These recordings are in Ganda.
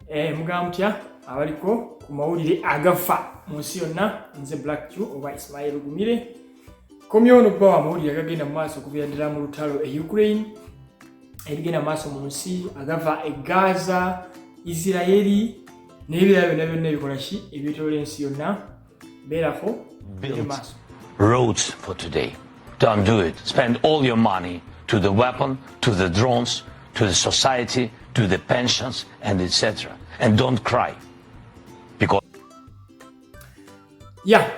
Eh, mugamba mutya abaliko ku mawulire agafa mu nsi yonna nze black q oba ismail gumire komyewo nokuba wa mawulire agagenda mu maaso okubeera ddala mu lutalo e ukraine ebigenda mu maaso mu nsi agava e gaza isiraeri n'ebirala byonna byonna ebikola ki ebyetolola ensi yonna beerako built roads for today don't do it spend all your money to the weapon to the drones to the society to the pensions and etc and don't cry because yeah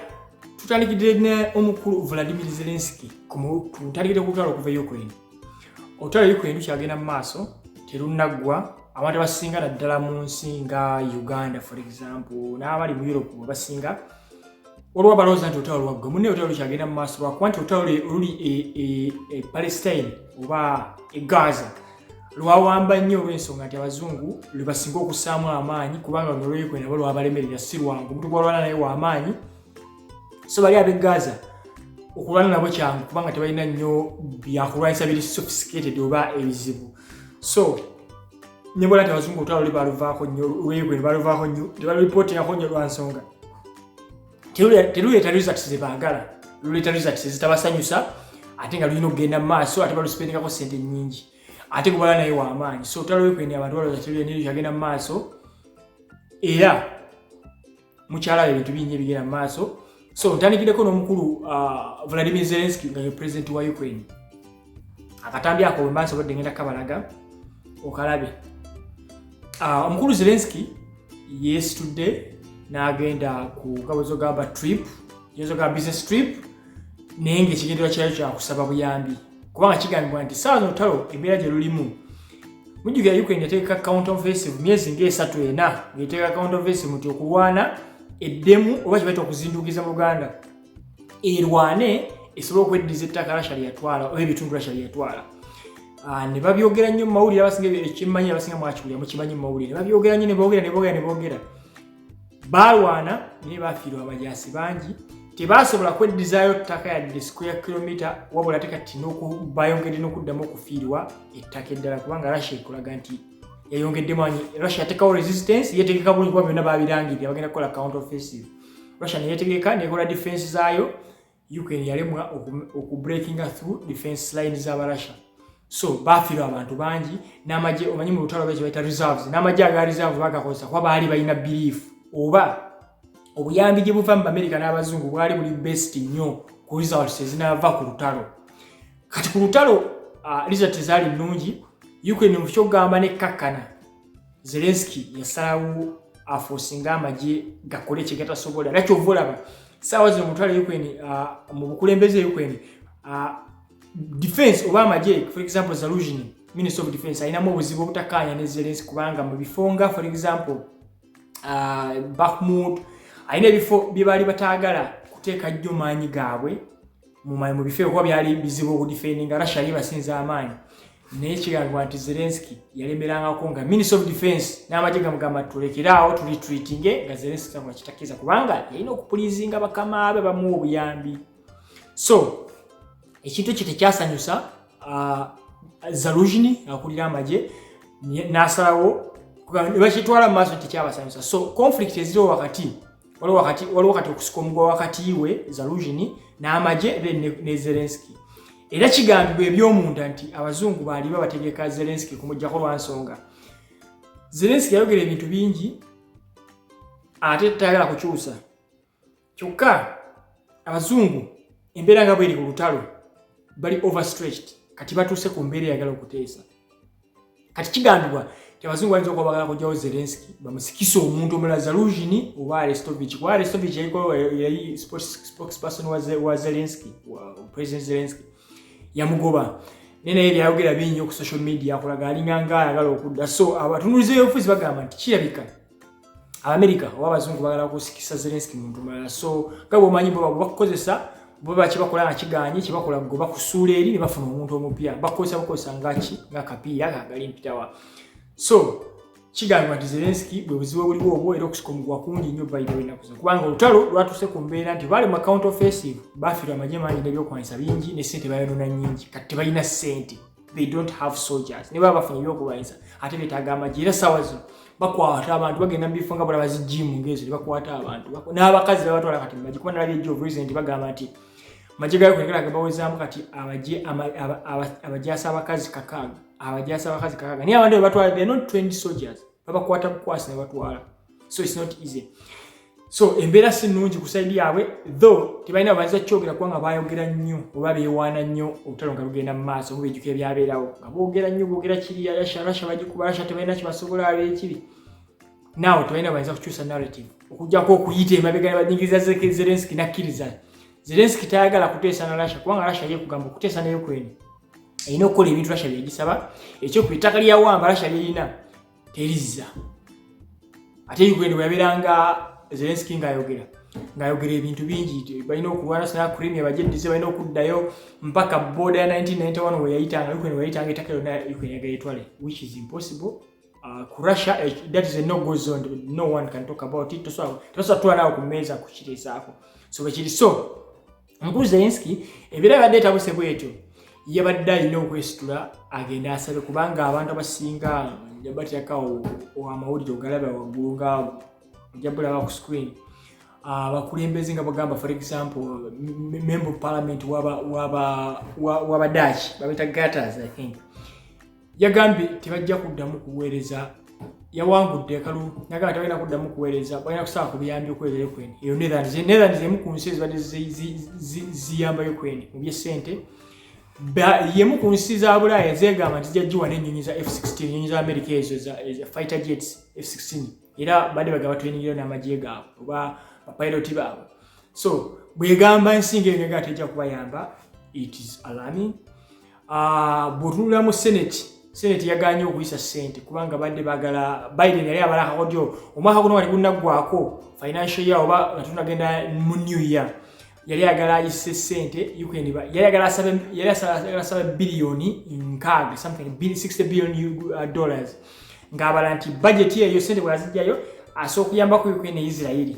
tutandikidde ne omukulu vladimir zelenski ku mutandikidde ku lutalo okuva e ukraine olutalo luli ku enjuki agenda mu maaso terunnaggwa abantu abasinga naddala mu nsi nga uganda for example n'abali mu europe abasinga olwoba balowooza nti olutalo lwaggwa munne olutalo lukyagenda mu maaso lwakuba nti olutalo oluli e, e, e palestine oba e gaza lwawamba nnyo olw'ensonga nti abazungu lwebasinga okusaamu amaanyi kubanga nolwekwena bo lwabalemerera si lwangu omuntu gwalwana naye wamaanyi so bali abe gaza okulwana nabo kyangu kubanga tebalina nnyo byakulwanyisa biri sophisticated oba ebizibu so nebwala ti abazungu olutalo luli baluvaako nnyo lwebwe nebaluvaako nnyo tebaluripotingako nnyo lwansonga teruleeta results zebaagala luleeta results ezitabasanyusa ate nga lulina okugenda mu maaso ate balusipendekako sente nyingi ate kubala naye wamaanyi so olutalo lwekwendi abantu balooza teruleeta agenda mu maaso era mukyala we ebintu bingi ebigenda mu maaso so ntandikireko n'omukulu uh, vladimir zelenski nga ye president wa ukraine akatambi ako bwe maaso badde ngenda kabalaga okalabe uh, omukulu zelenski yeesitudde n'agenda ku gabozo gamba trip yezo ga business trip naye ngaekigenderwa kyayo kyakusaba buyambi kubanga kigambibwa nti saawa zolutalo embeera gye lulimu mujjukira ukraine yateeka count offensive myezi ngaesatu ena ngaeteeka count offensive muti okulwana eddemu oba kibaita okuzindukiza mu luganda erwane esobola okweddiza ettaka rasha lyeyatwala oba ebitundu rasha lyeyatwala ah, ne babyogera nnyo mu mawulire abasinga ekyemanyi abasinga mwakiwulira mukimanyi mu mawulire babyogera nnyo ne boogera ne boogera ne boogera baalwana naye baafiirwa abajaasi bangi tebaasobola kweddizaayo ttaka yadde square kilomita wabula te kati bayongedde n'okuddamu okufiirwa ettaka eddala kubanga russia ekulaga nti yayongedde manyi russia yatekawo resistance yetegeka bulungi kuba byonna babirangirira bagenda kukola count offensive russia neyetegeka nekola defense zaayo Ukraine yalemwa oku breakinga through defense line za Russia so bafirwa abantu bangi n'amagye omanyi mu lutalo lwekyo bayita reserves n'amagye aga reserve bagakozesa kuba baali balina belief oba obuyambi gye buva mu bamerika n'abazungu bwali buli best nnyo ku results ezinaava ku lutalo kati ku lutalo uh, results ezaali nnungi ukraine mu kyokugamba nekkakkana zelenski yasalawo afosinga amagye gakole kyegatasobola era kyova olaba saawa zino mutwala ukraine uh, mu bukulembeze e ukraine uh, defense oba amagye for example zalugini minister of defense alinamu obuzibu obutakaanya ne zelenski kubanga mu bifo nga for example uh, bakhmut alina ebifo bye baali bataagala kuteeka nnyo maanyi gaabwe mu bifo ebikuba byali bizibu okudifendinga russia yebasinza amaanyi naye kigambibwa nti zelenski yalemerangako nga minister of defense n'amagye gamugamba tulekere awo tulitreatinge nga zelenski tagwa kitakkiriza kubanga yalina okupulizinga bakama be bamuwa obuyambi so ekintu ekyo tekyasanyusa uh, zalujini akulira amagye n'asalawo bakitwala mu maaso tekyabasanyusa so conflict eziriwo wakati waliwo kati okusika omugwa wakati we zalugini n'amagye ne zelenski era kigambibwa eby'omunda nti abazungu baali babategeka zelenski kumugjako lwansonga zelenski yayogera ebintu bingi ate tayagala kukyusa kyokka abazungu embeera nga bweri ku lutalo bali overstretched kati batuuse ku mbeera eyagala okuteesa kati kigambibwa abazungu bayinza okuba bagala kujjawo zelenski bamusikisa omuntu omulala zalugini oba arestovich kuba arestovich yali spokesperson wa zelenski president zelenski yamugoba naye naye byayogera bingi ku social media akulaga alinga nga ayagala okudda so abatunuliza eyofuzi bagamba nti kirabika abamerika oba abazungu bagala kusikisa zelenski muntu mulala so nga bwomanyi bo bakukozesa bo bakibakola nga kiganye kibakola go bakusuula eri ne bafuna omuntu omupya bakukozesa bukozesa ngaki nga kapiira kagali mpitawa so kigambibwa nti zelenski bwe buzibu obuliwo obwo era okusika omuguwa kungi nnyo bayidewo ennaku zino kubanga olutalo lwatuuse ku mbeera nti baali mu account offensive bafiirwa amagye mangi n'ebyokwanyisa bingi ne ssente bayonoona nyingi kati tebalina ssente they don't have soldiers ne baba bafunye byokulwanyisa ate betaaga amagye era sawa zino bakwata abantu bagenda mu bifo nga bala bazijimu ngezo ne bakwata abantu n'abakazi babatwala kati mumagye kuba nalabye jo president bagamba nti magye gayo kwegera gamba wezaamu kati abagye abagyasa abakazi kakaaga abagyasa abakazi kakaaga naye abantu bebatwala they not trained soldiers babakwata bukwasi ne batwala so it's not easy so embeera si nnungi ku saidi yaabwe though tebalina baza kyogera kubanga baayogera nnyo oba beewaana nnyo obutalo nga bugenda mu maaso oba bejuka ebyabeerawo nga boogera nnyo boogera kiri rasha rasha bagikuba rasha tebalina kibasobola abeekibi naawe tebalina bayinza kukyusa narrative okujjako okuyita emabega nebanyigiriza zerenski nakkiriza zerenski tayagala kuteesa na rasha kubanga rasha ye kugamba okuteesa nayo kwene erina okukola ebintu rasha byegisaba ekyokubitaka lyawamba rasha lyerina terizza ate ukraine bweyabeeranga zelenski ngaayogera ngaayogera ebintu bingi balina okulwana sina crimea bajeddize balina okuddayo mpaka boda ya 1991 weyayitanga ukraine weyayitanga etaka yona ukraine yagayetwale which is impossible uh, ku russia eh, that is a no go zone no one can talk about it tosobola twalawo ku meeza kukireezaako so bwekiri so Mukulu Zelenski ebeera yabadde etabuse bwetyo yabadde alina okwesitula agenda asabe kubanga abantu abasinga batyakawo amawulire ogalaba waggulu ngaawo ojja bulaba ku screen ah, abakulembeze nga bagamba for example member of parliament waba waba waba dutch babita gatters i think yagambye tebajja kuddamu kuweereza yawangudde ekalu nagamba tebalina kuddamu kuweereza balina kusaba ku biyambi okuweereza ukraine eyo netherlands netherlands emu ku nsi ezibadde ziyamba ukraine mu byessente yemu ku nsi za bulaaya zegamba nti jajjiwa nenyonyi za f16 enyonyi za amerika ezo za fighter jets f16 era badde bagaba twenyigiro n'amagye gaabwe oba bapiloti baabwe so bwegamba ensinga enega tejja kubayamba it is alarming Ah, bwotunula mu senate senate yaganye okuyisa sente kubanga badde bagala biden yali abala kakodyo omwaka guno wali gunaggwako financial year oba nga tunagenda mu new year yali agala ayise sente yali agala asaba biliyoni nkaaga something 60 billion uh, dollars ng'abala nti bajeti eyo sente bwazijjayo asooka okuyambaku ukraine ne isirairi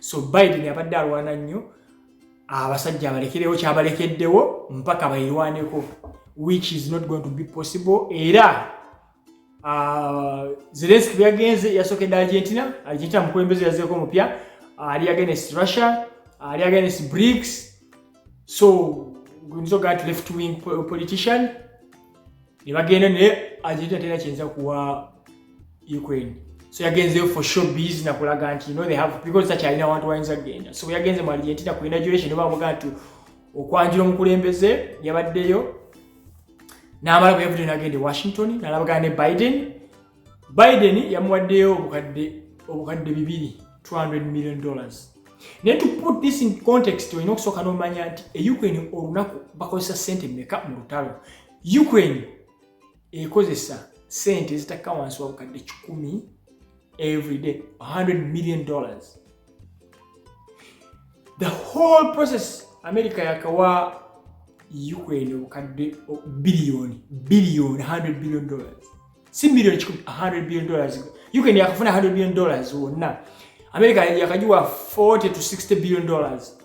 so biden abadde alwana nnyo abasajja abalekerewo kyabalekeddewo mpaka bayirwaneko which is not going to be possible era uh, zelenski bweyagenze yasokedde argentina argentina mukulembeze yazeeko omupya ali against russia ali against brics so guyinza ogaa ti left wing politician ne bagenda naye agenda tera kyinza kuwa Ukraine so yagenzeyo for show biz na kulaga nti no they have because such alina abantu wayinza kugenda so yagenze mu Argentina ku inauguration oba amuga nti okwanjula omukulembeze yabaddeyo n'amala bwe yavudde n'agenda e Washington n'alabagana ne Biden biden yamuwaddeyo obukadde obukadde bibiri 200 million dollars naye to put this in context olina okusooka n'omanya nti e ukraine olunaku bakozesa sente meka mu lutalo ukraine ekozesa sente ezitakka wansi wa bukadde kikumi everyday 100 million dollars the whole process america yakawa ukraine obukadde biliyoni biliyoni 100 billion dollars si million kikumi 100 billion dollars Ukraine yakafuna 100 billion dollars wonna America yakajiwa 40 to 60 billion dollars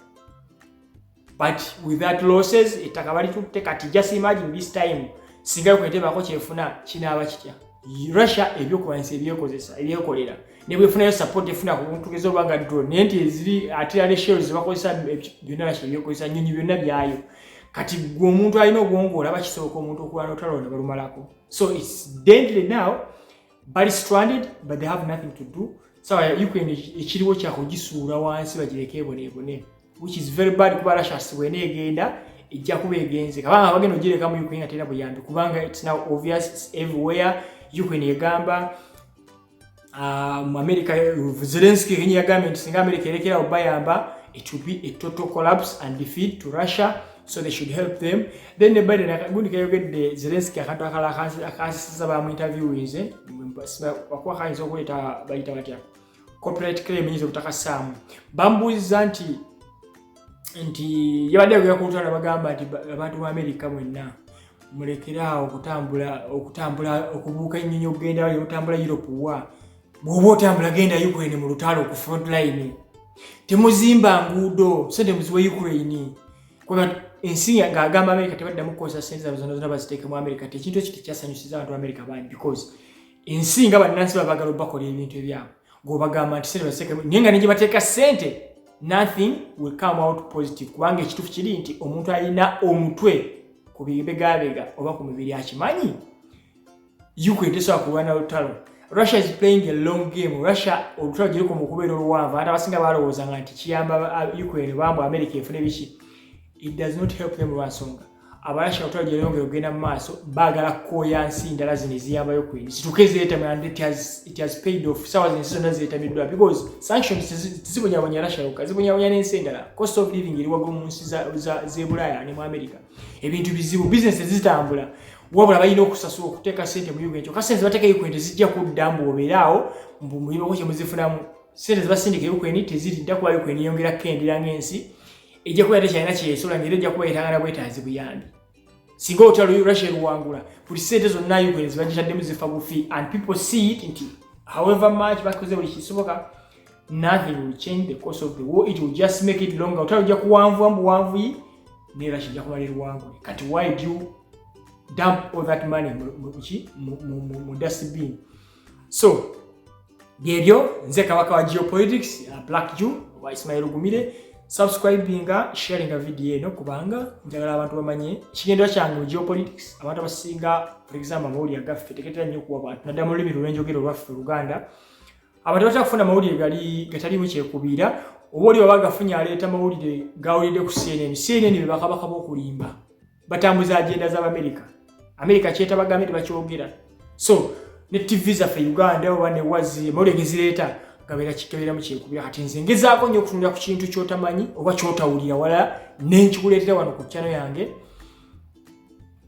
but with that losses ettaka balitutte kati just imagine this time singa Ukraine tebako kyefuna kinaaba kitya Russia ebyokulwanyisa ebyekozesa ebyekolera nebwefunayo support efuna ku buntu gezo banga drone naye nti eziri artillery shells zebakozesa byonna Russia ebyekozesa nnyonyi byonna byayo kati gwe omuntu alina obwongo olaba kisooka omuntu okulwana otalonda balumalako so it's deadly now bali stranded but they have nothing to do sawa so, ukraine ekiriwo kyakugisuula wansi bagireke eboneebone which is very bad kuba russia sibwena egenda ejja kuba egenze kabanga bagenda ogireka mu ukraine atera buyambi kubanga it's now obvious it's everywhere ukraine egamba Ah, mu america eh, zelenski yenye yagambye nti singa america erekerawo bayamba it will be a total collapse and defeat to russia so they should help them then ne biden akagundi kayogedde zelenski akantu akala akansisiza bamu interviewinze wakuba kayinza okuleeta bayita batya copyright claim yinza obutakasaamu bambuuziza nti nti yabadde agera ku lutalo bagamba nti abantu ba america mwenna mulekere awo okutambula okutambula okubuuka ennyonyi okugenda yo otambula europe wa bwoba otambula genda ukraine mu lutalo ku front line temuzimba nguudo sente muziwa ukraine kuba ensi ng'agamba amerika tebaddamu kukozesa sente zabo zona zona baziteeke mu amerika ti ekintu ekyo tekyasanyusiza abantu amerika bangi because ensi nga bannansi babagala obakola ebintu ebyabwe gwobagamba nti sente bazitekemu naye nga negyebateeka sente nothing will come out positive kubanga ekituufu kiri nti omuntu alina omutwe ku bibegabega oba ku mibiri akimanyi ukraine tesobola kulwana lutalo russia is playing a long game russia olutalo giriko mu kubeera oluwanvu ate abasinga balowoozanga nti kiyamba uh, ukraine bambu america efune biki it does not help them lwansonga abalasha lutalo gye lyongera okugenda mu maaso baagala kukooya nsi ndala zino eziyambayo ku indi zituuke zeetamira and it has, it has paid off saawa zinsi zonna zeetamiddwa because sanctions tezibonyabonya rasha yokka zibonyabonya n'ensi endala cost of living eri waggulu mu nsi z'ebulaaya ne mu america ebintu bizibu bizinesi tezitambula wabula balina okusasula okuteeka sente mu uganda kyoka sente zibateeka ukraine tezijja kudda mbu obeeraawo mbu mulimako kyemuzifunamu sente zibasindika ukraine teziridda kuba ukraine yongera kukendera ng'ensi ejja kubeera tekyalina kyeyesola ngaera ejja kuba yetagala bwetaazi buyambi singa olutalo russia luwangula buli sente zonna ukraine zibagitaddemu zifa bufi and people see it nti however much bakoze buli kisoboka nothing will change the course of the war it will just make it longer olutalo ojja kuwanvuwa mu buwanvuyi ne russia ojja kumala eruwangule kati why do you dump all that money mu dustbin so byebyo nze kabaka wa geopolitics uh, black jew wa ismail gumire subscribinga sharinga video eno kubanga njagala abantu bamanye ekigendera kyange mu geopolitics abantu abasinga for example amawulire agaffe teketera nnyo okuwa bantu naddala mu lulimi lwenjogera olwaffe oluganda abantu batera kufuna amawulire gali gataliimu kyekubiira oba oli waba agafunye aleeta amawulire gawulidde ku cnn cnn bebakabaka bokulimba batambuza agenda za America America kyetaba gambe bakyogera so ne TV za fe Uganda oba ne wazi mole gezireta kabera kikabera mu kinkubya kati nze ngezaako nyo kutunula ku kintu kyotamanyi oba kyotawulira wala nenkikuleta wano ku channel yange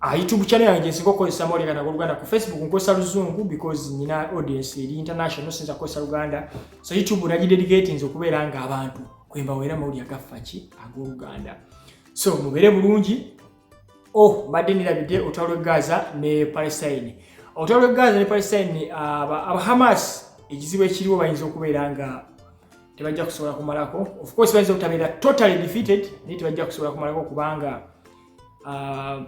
a ah, YouTube channel yange nsiko ko sa mole kana Uganda ku Facebook nko sa luzungu because nina audience eri international sinza ko sa Uganda so YouTube na dedicate nzo kubera nga abantu kwemba wera mawuli agafaki ago Uganda so mubere bulungi oh mbadde nirabidde olutalo lwe gaza ne palestine olutalo lwe gaza ne palestine aba hamas ekizibu ekiriwo bayinza okubeera nga tebajja kusobola kumalako of course bayinza obutabeera totally defeated naye tebajja kusobola kumalako kubanga uh,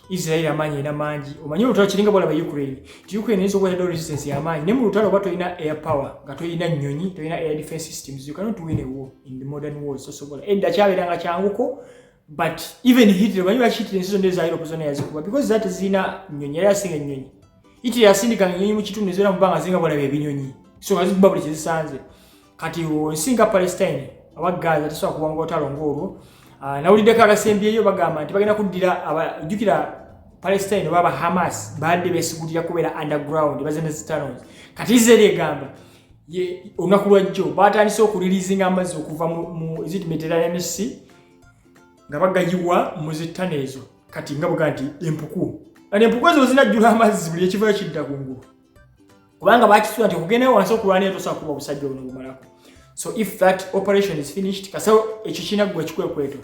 Israeli amaanyi erina mangi omanyi olutalo kiringa bwalaba Ukraine nti Ukraine eyinza okuba yadde resistance yamaanyi naye mu lutalo oba tolina air power nga tolina nnyonyi tolina air defense systems you cannot win a war in the modern world sosobola edda kyabeeranga kyanguko but even Hitler omanyi lwaki Hitler ensi zonna eza Europe zonna yazikuba because zati zirina nnyonyi yali asinga ennyonyi Hitler yasindikanga ennyonyi mu kitundu ezibeera mu bbanga zinga bwalaba ebinyonyi so nga zikuba buli kyezisanze kati nsi nga palestine aba gaza tesobola kuwanga otalo ngaolwo ah, nawuliddeko abasembyeyo bagamba nti bagenda kuddira jjukira palestine oba aba hamas badde besigulira kubeera underground bazenezitanos kati israeli egamba olunaku lwajjo batandise okulilizinga amazzi okuva mu zit mediterranean sea nga bagayiwa mu zittano ezo kati nga buga nti empuku kati empuku ezo zinajjula amazzi buli ekivayo kidda kungulu kubanga bakisuula nti okugendayo wansi okulwanayo tosobola kuba obusajja buno bumalako so if that operation is finished kasa ekyo kirina gwe kikwekweto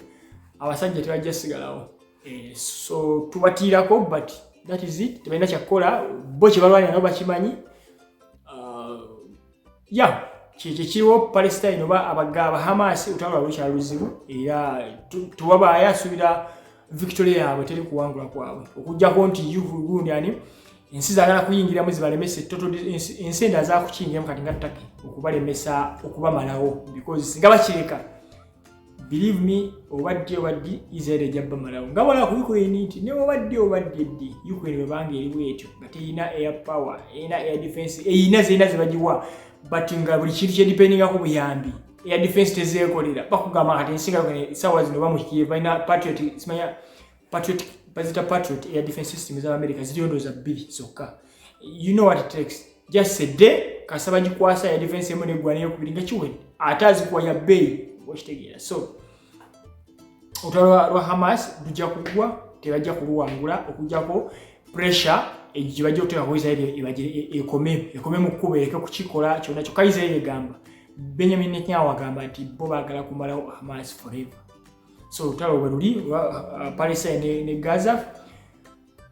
abasajja tebajja sigalawo eh, so tubatiirako but that is it tebalina kyakukola bo kyebalwanira nabo bakimanyi uh, ya kyekyo kiriwo palestine oba abagaba hamas otwalwa lukyala luzibu era tuwabaaya asuubira victoria yaabwe teri kuwangula kwabwe okujjako nti ugundi ani ensi zagala kuyingiramu zibalemese toto ensi enda zakukiyingiramu kati nga ttaki okubalemesa okubamalawo because singa bakireka believe me obaddi obaddi israel ejja bamalawo nga wala ku ukraine nti ne obaddi obaddi ddi ukraine webanga eriwo etyo nga teyina air power erina air defense eyina zirina zibagiwa but nga buli kintu kyedipendingako buyambi eya defense tezeekolera bakugamba kati ensinga esawa zino bamuhikiye balina patriot simanya patriot bazita patriot eya defense system za america ziriyo ndooza bbiri zokka you know what it takes just a day kasaba gikwasa ya defense emu neggwana eyokubiri nga kiwedde ate azikuwa ya bbeeyi okitegeera so olutalo lwa hamas lujja kugwa tebajja kuluwangula okujjako pressure egibajja okuteeka ku israeli ekome ekome mu kkuba ereke kukikola kyona kyokka israeli egamba benjamin netanyahu agamba nti bo bagala kumalawo hamas forever so olutalo bwe luli uh, palestine ne, ne gaza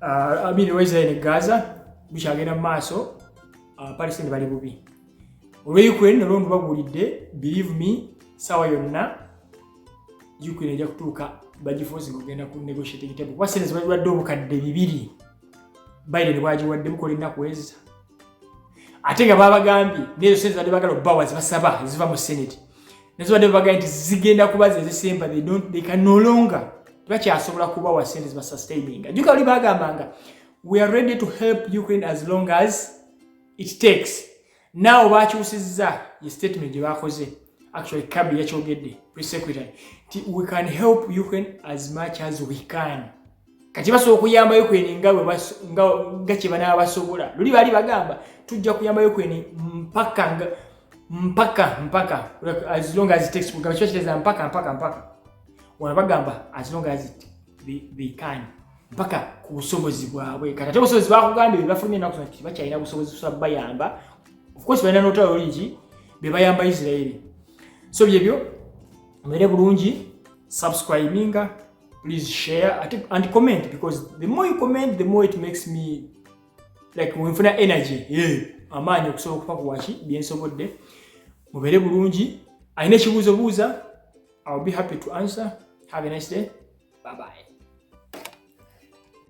uh, amini israel ne gaza bukyagenda mu maaso uh, palestine bali bubi olwa ukraine nalwo ndubabuulidde believe me saawa yonna ukraine ejja kutuuka bagifuuzi ngaogenda ku negotiating table kuba sente zibadde obukadde bibiri biden bwagiwadde mukola ennaku eza ate nga babagambye nezo sente zibadde bagala obubawa zibasaba eziva mu senate nezibadde babagambye nti zigenda kuba zezisemba ekanolonga tebakyasobola kubawa sente zibasustaininga juka oli bagambanga we are ready to help ukraine as long as it takes naawe bakyusizza ye statement gye bakoze actually kabi yakyogedde pre secretary nti we can help ukraine as much as we can kati basobola okuyamba yukraine nga kyebanaba basobola luli baali bagamba tujja kuyamba yukraine mpaka mpaka mpaka as long as takes kugamba kiba kiteeza mpaka mpaka mpaka wano bagamba as long as they can mpaka ku busobozi bwabwe kati ate obusobozi bakugambye bebafulumye enaku zona kiti bakyalina busobozi busobola bayamba ofcourse balina notalo lungi bebayamba isirairi so byebyo mubere bulungi subscribinga please share and comment because the more you comment the more it makes me like wenfuna energy yeah. amaanyi okusobola okufa ku waki byensobodde mubeere bulungi alina ekibuuzo buuza iwill be happy to answer have a nice day bye bye